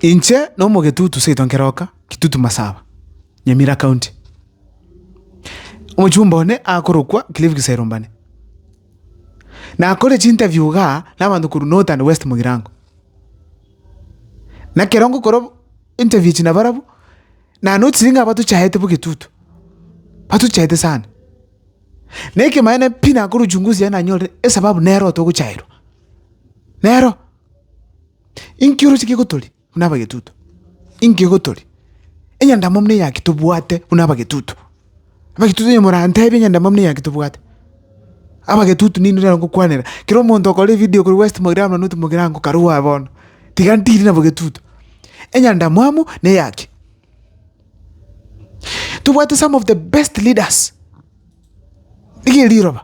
Inche n'omogetutu seito nkeroka, Kitutu Masaba, Nyamira County. Omochumba one akorokwa Cliff Giserumbane. Nakore chinterview iga nabanto korwa North and West Mugirango. Nakero ngokora interview echi nabarabwo, nanotirie ng'a batochaete bogetutu, batochaete sana. Na ekemanene pi nakora uchunguzi yaye nanyorire esababu nero otogochaerwa, nero. Inki oroche kegotoria buna abagetuto? Inki egotoria? Enyandamo buna eyaki tobwate buna abagetuto? Abagetuto onye morantebe enyandamo buna eyaki tobwate, abagetuto ninwe nere ngokwanera. Kera omonto okore evidio korwa West Mogirango nonye North Mogirango karue aye bono, tiga ntiri na bogetuto. Enyandamo amo na eyaki. Tobwate some of the best leaders, riria riroba.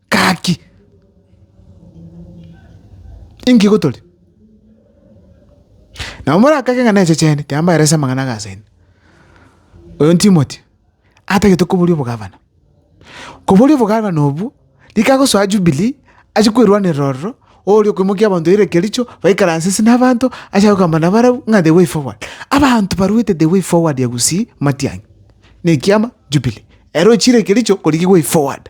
Gaki! Inki gotore? Nabo morakage ng'a nenche chiane, kiya mbaerese amang'ana aya asende. Oyo Timoti, atagete koboria obogavana. Koboria obogavana obwo, rika agosoa Jubilee, achie kwerwanerera ororo, oria okoimokia abanto baire Kericho, baikaranse ase nabaanto, acha gokamba nabarabwo ng'a the way forward. Abanto baruete the way forward ya Gusii, matiang'i. Na ekiama, Jubilee. Ere ochire Kericho korigia way forward.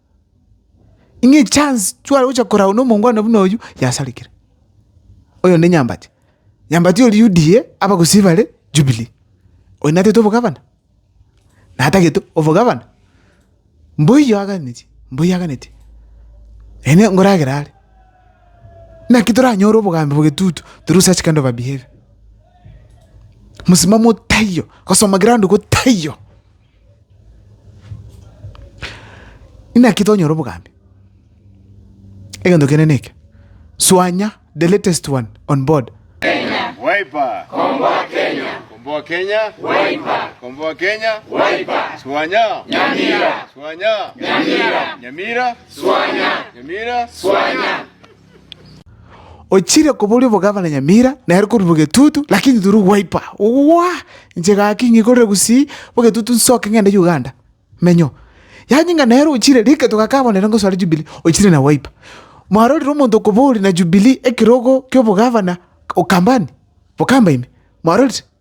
Ng'a echance tware gocha koragwa na omongwana buna oyio, yasarigire. Oyo onde Nyambati, Nyambati oria UDA, abagusii bare Jubilee. Oyo natete obogavana? Natagete obogavana? Mboiyo aganetie, mboiyo aganetie. Ene nkoragera are, naki toranyore obogambi bogetutu through such kind of a behaviour. Mosimamo taiyo, gosoma ground go taiyo. Inaki tonyora obogambi? Egento kende neke, Swanya the latest one on board. Ochire koboria obogavana Nyamira, nere korwa bogetutu, lakini turi gwaipa. Ogoa! Inche gaki ng'ikorere gusii bogetutu nsoke ng'ende Uganda. Menyo. Yaani ng'a nere ochire riketo gaka abwo nere ngosare Jubilee, ochire na gwaipa. Mwarorire omonto okoboria na Jubilee ekerogo ki'obogavana, Ukambani? Bokamba ime? Mwarorire?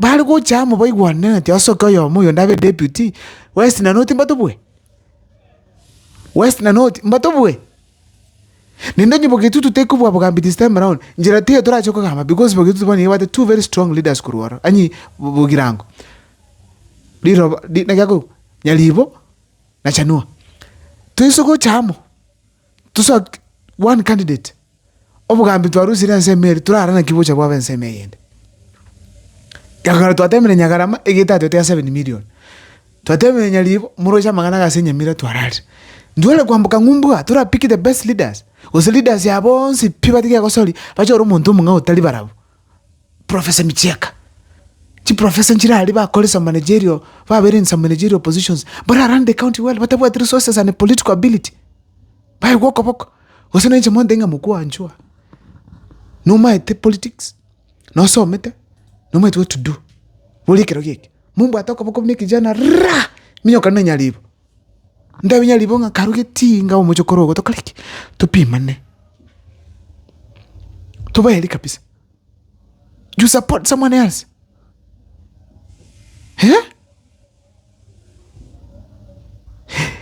bare gocha amo baigwananeti asoki oyomo oyonde abe deputy, west na north mbatobue? West na north mbatobue? Naende onye bogetutu tekobua bogambi this time around, nchera tiga torache kogamba because bogetutu bono nigo ebwate two very strong leaders korwa ororo anyi bo- bogirango. Riroba ri- naki akorwa, Nyaribo na Chanua. Toise gocha amo. Tosoa one candidate. Obogambi twarusirie ase ime eri torara naki bocha bwabe ase ime eyende. Nyakagaro twateemire Nyagarama egete atwete ya seven million. Twateemire Nyaribo moroche amang'ana iga ase Nyamira twararire. Ntware kwamboka ng'umbuga tora pick the best leaders. Gose leaders ya bonsi pi batiga egosoria bache ore omonto omong'ao otari barabwo. profesa emicheka, chiprofesa nchire aria bakore some managerial, babeire in some managerial positions, mbare aran the county well, batabwati resources and political ability, baigwa okoboko. Gose nainche monto ng'a mokwanchwa, nomaete politics, nosomete, nomaete what to do, boria ekero geke, mombwate okoboko buna ekejana raa! minyoka nanyaribo. Ndabinye ribogo ng'a karu getinga omochie korwa ogotoka riki, topimane, tobaeri kabisa, you support someone else eh?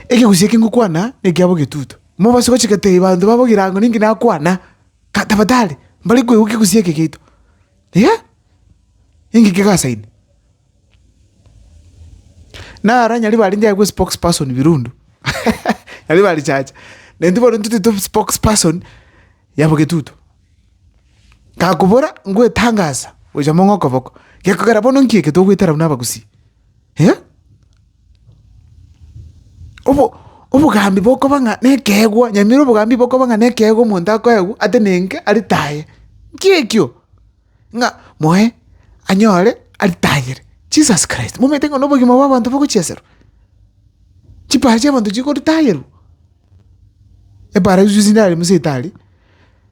Ekegusii eke ngokwana na ekiabo egetutu, mobase gochi gotebi banto babo egerango ninki nakwana, ka tafadhali, mbari koigwa kegusii eke giaito. Inee! Inki kegasaini? Naro onye ribaria inche agwo spokes person Birundu, nari barichacha, na intwe bono intwe titwe spokes person ya Bogetutu. Gakobora ngwetangasa gocha mong'okoboko, gekogera bono nki eke togoetera buna Abagusii? eh? obo obogambi bokoba ng'a nekeegwa nyamira obogambi bokoba ng'a nekeegwa omonto akoegwa atenenke aritaye, nki ekio? Ng'a moe anyore aritayere Jesus Christ, momanyete ng'a nobogima bwa abanto bogochieserwa? Chipara chiabanto chikoritayeru? Eparadiso chinde are Musa etari?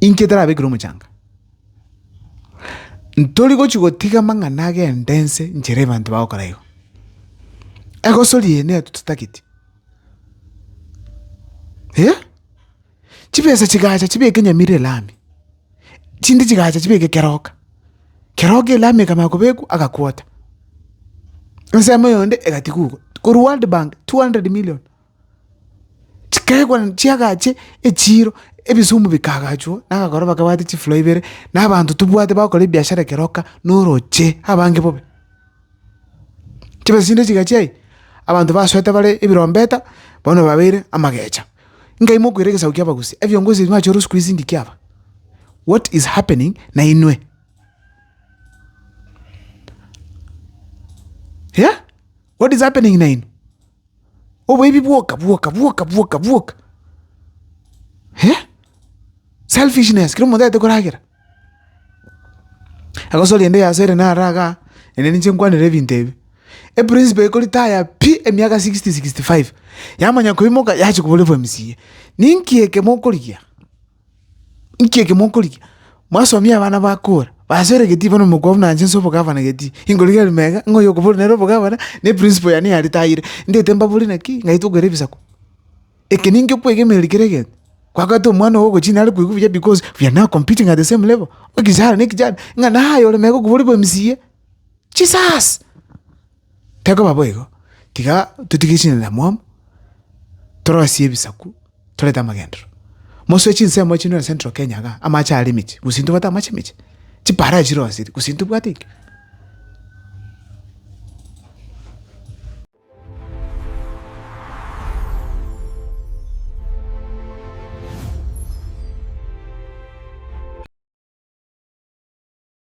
Inki etarabekirwe omochanga? Ntori gochia gotiga amang'ana agenda ense nchera abanto bagokora igo. Egosori eye neyo totageti eh! Chibesa chigacha chibeke Nyamira elami, chindi chigacha chibeke Keroka, Keroka elami ekamanya kobekwa agakwota, ensemo eyonde egatigwa igo, korwa World Bank two hundred million. Chikeegwa naende chiagache echiiro, ebisumu bikaagachwa na abakora bakabwate chifuro ibere, na abanto tobwate bagokora ebiashara ekero oka na oroche abange bobe. Chibesinde chigachia aye, abanto basoete bare ebirombeta, bono babeire amagecha, nkai mokoira egesaku kia abagusi, ebiongozi ebi mwachorire siku hizi ndiki aba? What is happening na inwe? Yea, what is happening na inwe? Oboibi bwoka bwoka bwoka bwoka bwoka eh, selfishness kera omonto tagete koragera. Egosoria ende ya sere naro igaa, ende ninche nkwanere ebinto ebi. Eprinciple eye koritaya pi emiaka sixty, sixty five, yamanya koimoka yachia koboria obwa mca. Ninki eke mokorigia? Inki eke mokorigia? Mwasomia abana bakora, basore gati bono omokwa buna inche nse obogavana gati, ingorigereria mega ng'a oyo okoboro nere obogavana, ne principle yane yare tayire. Ndete mbabori naki, ng'ai tokore ebisaku? Eke ninki okwegemereri kera egento? Kwabwate omwana oo ogochi nare koigwa buya because we are now competing at the same level, ekechara ne ekechara, ng'a naye ore mega okobua ore bwa mca, Jesus! Tekoba boigo, tiga totige chinena mwamu, torosie ebisaku, torete amagendero. Mosoe chinsemo echi nore Central Kenya igaa, amache are emechie, gose intobwate amache emechie? Chipaara chirosirie, gose intobwate ekio?